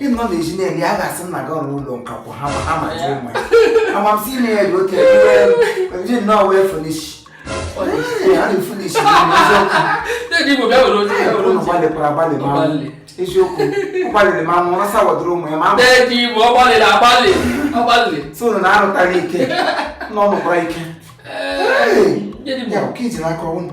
ị nọ na ezi na-eri a ga-asị nna gị ọrụ ụlọ nka kwụ ha ma ha ma ji ụmụ ya amamsi ime ya dị oke ji nnọọ wee finish gbalịkwara agbalị ma eziokwu gbalịrị ma nwụrụ sa kwadoro ụmụ ya ma so na arụtara ike na ọ nụkwara ike ya oke iji n'aka ọnwụ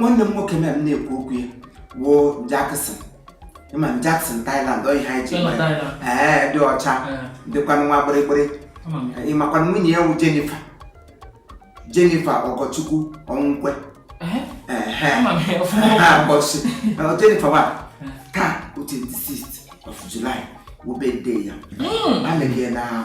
nwanne m nwoke m na-ekwu okwu ya wụ Jackson ị ma Jackson Thailand ọ ihe anyị ji ee dị ọcha dịkwanụ nwa gbịrịgbịrị ị makwanụ nwunye ya wụ Jennifer Jennifer Ọgọchukwu Ọnwụkwe Jennifer wa taa 26 of July wụ birthday ya a na-ege na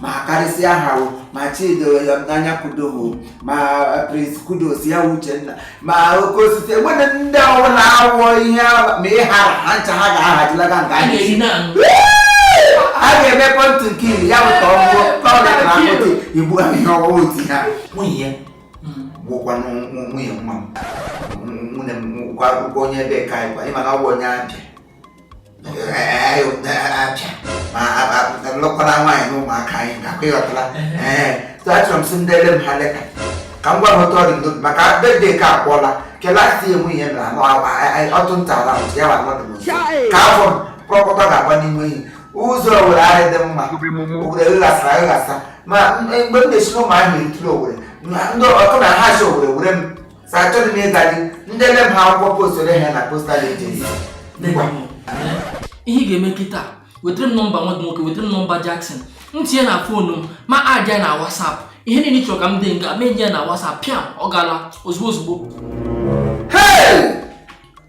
ma karịsịa ha o ma chido anya kudo o ma Prince Kudos ya wụ Uchenna ma oke osisi e nwere ndị ọbụla awụọ ihe a- ma ị hara ha ncha ha ga-ahajilaga nke a anyị na-eri na anụ a ga-eme pọntụ nke iri ya bụ ka ọ bụrụ ka ọ dị na akpụtị igbu ahụ ihe ọwụwa oti ha nwunye ya gwụkwa nwunye nwa m nwunye m gwa gwa onye ebe ka anyị gwa ị ma na ọ bụ onye abịa lụkwara nwaanyị na ụmụaka anyị gakwa ị ghọtara ee achọrọ m sị deere m ha leta ka m gwa ha otu ọ dị ndụ maka birthday ka akwụọla kelasi enwe ihe mere anụ ọtụ nta ala ya wa mmadụ ka afọ m kpọkọta ga-agba n'ime enyi ụzọ Owere ahịa dị mma Owere ghasara aghasa ma mgbe m na-esi n'Ụmụahịa etiri Owere ndị ọkụ na ha si Owere were m sa achọghị m ịga sị deere m ha akwụkwọ postuoro ha na postal agency ihe ị ga-eme kịta wetara m nọmba nwa gị nwoke wetara m nọmba Jackson m tinye na foonu m ma add ya na WhatsApp ihe niile ị chọrọ ka m dee m ga-eme ya na WhatsApp pịam ọ gala ozugbo ozugbo Hey!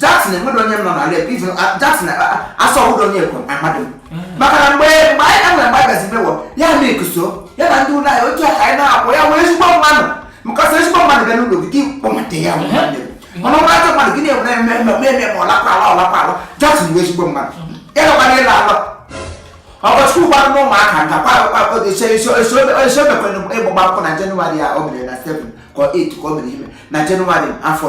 Jackson enweghị onye m nọ n'ala Igbo even uh, Jackson uh, uh, asọ ọbụla onye ekwe amadị m mm. maka na mgbe mgbe anyị na mgbe agazi mewo ya na ekuso ya na ndị ụlọ anyị otu aka anyị na-akwụ ya wụ ezigbo mmanụ maka sị ezigbo mmanụ bịa n'ụlọ gị kpọbata ya mm. mana ọ wụrụ ajọ mmadụ gị na-enwe eme eme eme eme ọlakwala ọlakwala Jackson wụ ezigbo mmanụ mm. ya nọkwara ịla alọ Ọgọchukwu gwara na ụmụaka nka esomekwere ịgba akwụkwọ na jenụwarị ya o mere na 7 ka 8 ka o mere ime na jenụwarị afọ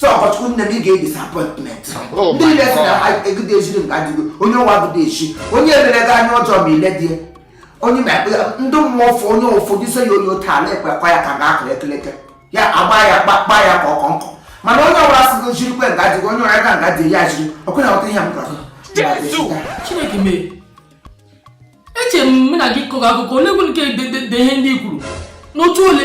so Ọgọchukwu nne m ị ga-ebi sapọtment oh ndị ile si na egide ejiri mgbe adịgo onye ụwa gụda echi onye mere gị anya ọjọọ ma ile dị onye ma ekpe ndị mmụọ ụfọ onye ụfọdụ ise ya onye otu ala ekpe kwa ya ka ga akụ ekeleke ya agba ya kpa ya ka ọkọnkọ mana onye ọbụla sị gị jiri kwe nga dịgo onye ọrịa ga nga dị ya jiri ọkụ na ọta ihe m gwara Chineke mee eche m na gị kọrọ akụkọ ole gwere nke de ihe ndị kwuru n'otu ole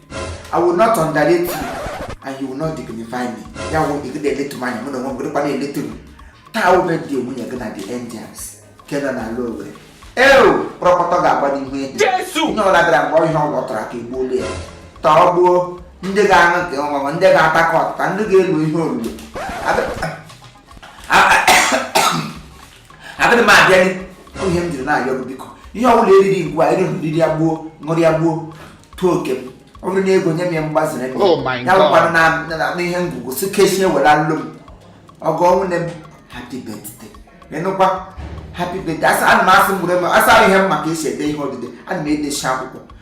I will not underrate you and you will not dignify me. Ya wụ ị gịdị eletu m anya mụ n'onwe m gịdịkwa na-eletu m. Taa wụ birthday nwunye gị na the Angels nke nọ n'ala Owerri. Eo kpọrọkpọtọ ga-agba n'ihu ehi. Jesu! Onye ọbụla bịara mgbe ihe ọwụ ọ tụrụ aka egbuolu ya. Tọọ gbuo ndị ga-aṅụ nke ọṅụṅụ ndị ga-ata nke ọtịta ndị ga-elu ihe olulu. agadịghị m abịa ihe m jiri na-arịọ gị biko ihe ọ bụla eriri ngwa eri riri ya gbuo ṅụrụ ya gbuo tụọ oke m ọ bụrụ n'ego nye m ya mgbaziri m oh ya bụkwanụ n'ihe ngwugwu si kechie were alụ m ọgọ nwunye m happy birthday ịnụkwa happy birthday asa ana m asị mgbere m asa ihe m ma ka esi ede ihe odide ana m edechi akwụkwọ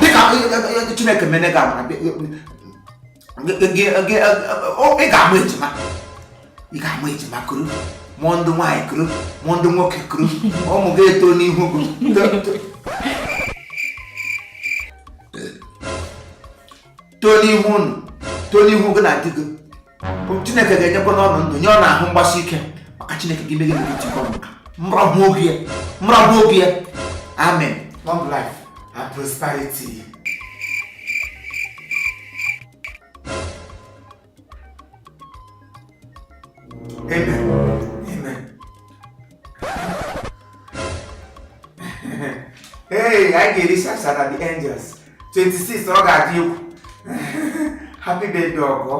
dịka chineke mene gị amara ị ga-amụ ejima ị ga-amụ ejima kuru mụọ ndị nwaanyị kuru mụọ ndị nwoke kuru ụmụ gị etoo n'ihu gị too n'ihu unu too n'ihu gị na di gị chineke ga-enyekwa unu ndụ nye unu ahụ mgbasi ike maka chineke ga-emegide gị tikọ nka mrọbụ oge ya mrọbụ oge ya amen long life and prosperity ee anyị ga-eri shashara the angels 26 ọ ga-adị egwu happy birthday ọgọ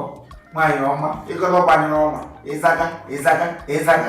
nwaanyị ọma ịkọlọ gbanyere ọma ịzaga ịzaga ịzaga